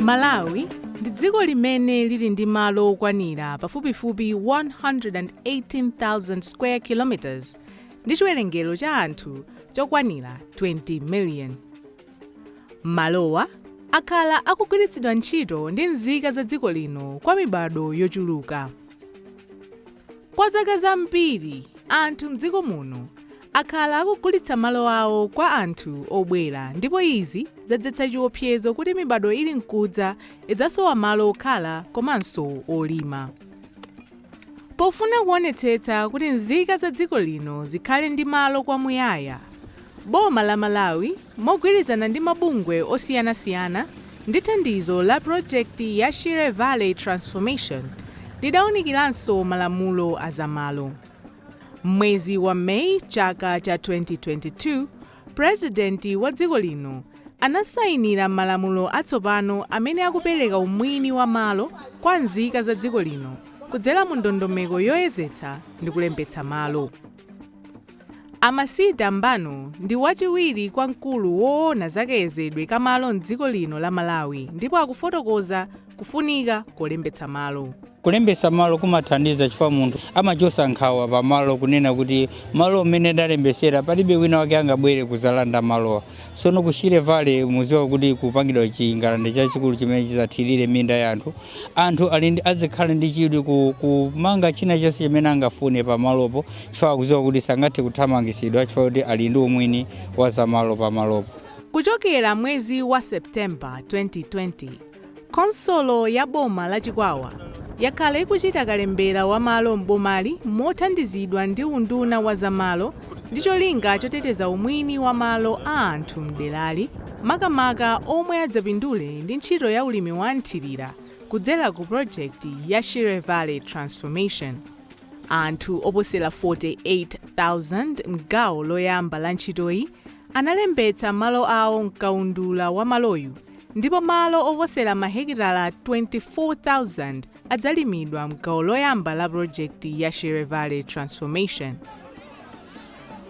malawi ndi dziko limene lili ndi malo okwanira pafupifupi 118,000 square kilometers ndi chiwerengero cha anthu chokwanira 20 million Malowa akhala akugwiritsidwa ntchito ndi nzika za dziko lino kwa mibado yochuluka. Kwa zaka zambiri, anthu m'dziko muno akhala akugulitsa malo awo kwa anthu obwera ndipo izi zadzetsa chiopsezo kuti mibado ili nkudza idzasowa malo okhala komanso olima. Pofuna kuonetsetsa kuti nzika za dziko lino zikhale ndi malo kwa muyaya, boma la Malawi mogwirizana ndi mabungwe osiyanasiyana ndi thandizo la project ya Shire Valley Transformation lidaunikiranso malamulo a za malo. M'mwezi wa May chaka cha 2022, Purezidenti wa dziko lino anasainira malamulo atsopano amene akupereka umwini wa malo kwa nzika za dziko lino kudzera mu ndondomeko yoyezetsa ndi kulembetsa malo. A Masida Mbano ndi wachiwiri kwa mkulu woona za kayezedwe ka malo m'dziko lino la Malawi ndipo akufotokoza Kufunika kolembetsa malo. Kulembetsa malo kumathandiza chifukwa munthu amachosa nkhawa pa malo kunena kuti malo amene ndalembesera palibe wina wake angabwere kuzalanda malowa. Sono ku Shire Valley muziwa kuti kupangidwa chingalande chachikulu chimene chizathirire minda ya anthu. Anthu azikhala ndi chidwi kumanga china chonse chimene angafune pa malopo chifukwa akuziwa kuti sangathe kuthamangisidwa chifukwa kuti ali ndi umwini wa zamalo pa malopo. Kuchokera mwezi wa September 2020. Khonsolo ya boma la Chikwawa yakhala ikuchita kalembera wa malo m'bomali mothandizidwa ndi unduna wa za malo ndi cholinga choteteza umwini wa malo a anthu m'derali makamaka omwe adzapindule ndi ntchito ya ulimi wa mthirira kudzera ku project ya Shire Valley Transformation. Anthu oposera 48,000 m'gawo loyamba la ntchitoyi analembetsa malo awo m'kaundula wa maloyu. ndipo malo oposera mahekitala 24,000 adzalimidwa m'gawo loyamba la pulojekiti ya Shire Valley Transformation.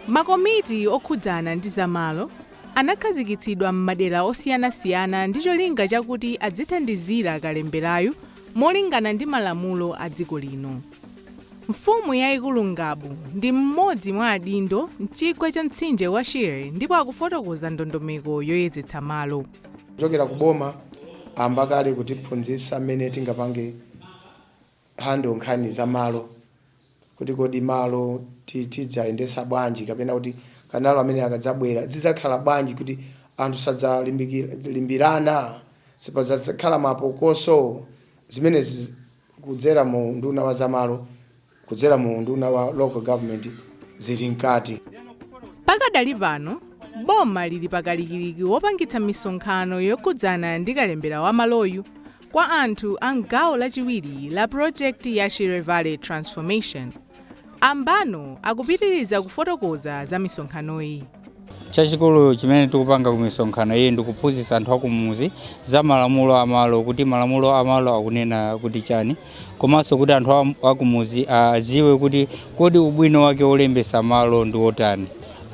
Makomiti okhudzana ndi zamalo anakhazikitsidwa m'madera osiyanasiyana ndi cholinga chakuti adzithandizira kalemberayu molingana ndi malamulo a dziko lino. Mfumu yaikulu Ngabu ndi mmodzi mwa adindo mchigwa cha mtsinje wa Shire ndipo akufotokoza ndondomeko yoyezetsa malo. Kuchokera ku boma ayamba kale kutiphunzitsa mmene tingapange handle nkhani za malo kuti kodi malo ti- tidzayendetsa bwanji kapena kuti kanalo ameneyu akadzabwera zidzakhala bwanji kuti anthu sadzalimbikira- limbirana sipadzakhala mapokoso zimenezi kudzera mu unduna wa zamalo, kudzera mu unduna wa local government zili mkati. Pakadali pano, boma lili pa kalikiliki wopangitsa misonkhano yokhudzana ndi kalembera wa maloyu kwa anthu a m'gawo lachiwiri la pulojekiti ya Shire Valley Transformation. A Mbano akupitiriza kufotokoza za misonkhanoyi. Chachikulu chimene tikupanga ku misonkhano iyi ndi kuphunzitsa anthu akumuzi za malamulo a malo, kuti malamulo a malo akunena kuti chani, komanso kuti anthu am- akumuzi aziwe kuti kodi ubwino wake wolembesa malo ndi wotani.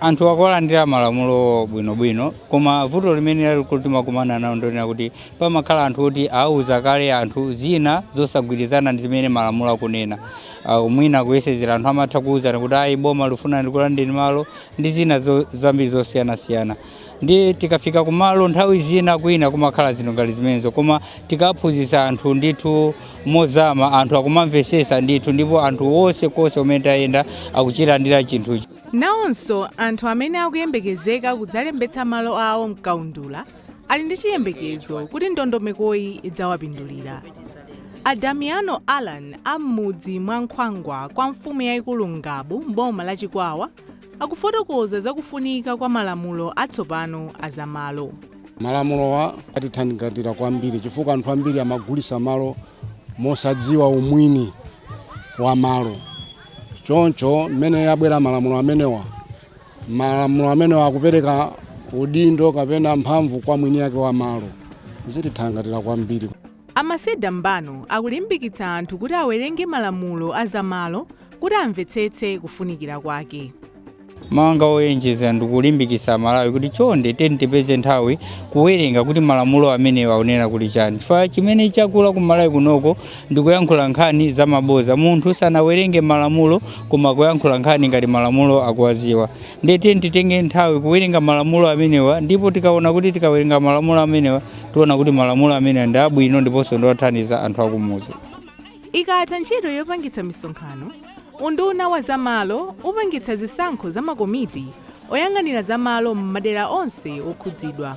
Anthu akuwalandira malamulowo bwinobwino, koma vuto limene lalikulu timakumana nalo ndilonena kuti pamakhala anthu oti auza kale anthu zina zosagwirizana ndi zimene malamulo akunena. Ah, Mwina kuyesezera anthu amatha kuuzana kuti ayi boma likufuna likulandeni malo, ndi zina zo, zambiri zosiyanasiyana ndiye tikafika kumalo nthawi zina kwina kumakhala zinthu ngati zimenezo koma tikaphunzitsa anthu ndithu mozama anthu akumamvesesa ndithu ndipo anthu konsekonse kumene tayenda akuchilandira chinthuchi Nawonso anthu amene akuyembekezeka kudzalembetsa malo awo m'kaundula Ali ndi chiyembekezo kuti ndondomekoyi idzawapindulira. A Damiano Allan a m'mudzi mwa Nkhwangwa kwa mfumu yaikulu Ngabu m'boma la Chikwawa akufotokoza za kufunika kwa malamulo atsopano a za malo. Malamulowa atithangatira kwambiri chifukwa anthu ambiri amagulitsa malo mosadziwa umwini wa malo. Choncho mmene abwera malamulo amenewa, malamulo amenewa akupereka udindo kapena mphamvu kwa mwini yake wa malo zitithangatira kwambiri A Masida Mbano akulimbikitsa anthu kuti awerenge malamulo a zamalo kuti amvetsetse kufunikira kwake. mawu anga owonjeza ndikulimbikisa amalawi kuti chonde tiyeni tipeze nthawi kuwerenga kuti malamulo amenewa akunena kuti chani chifukwa chimene chakula ku malawi kunoko ndikuyankhula nkhani za maboza munthu sanawerenge malamulo koma kuyankhula nkhani ngati malamulo akuwaziwa ndiye tiyeni titenge nthawi kuwerenga malamulo amenewa ndipo tikaona kuti tikawerenga malamulo amenewa tiona kuti malamulo amenewa ndi abwino ndiponso ndi othandiza anthu akumuzi ikatha ntchito yopangitsa misonkhano unduna wa zamalo upangitsa zisankho za makomiti oyang'anira zamalo m'madera onse okhudzidwa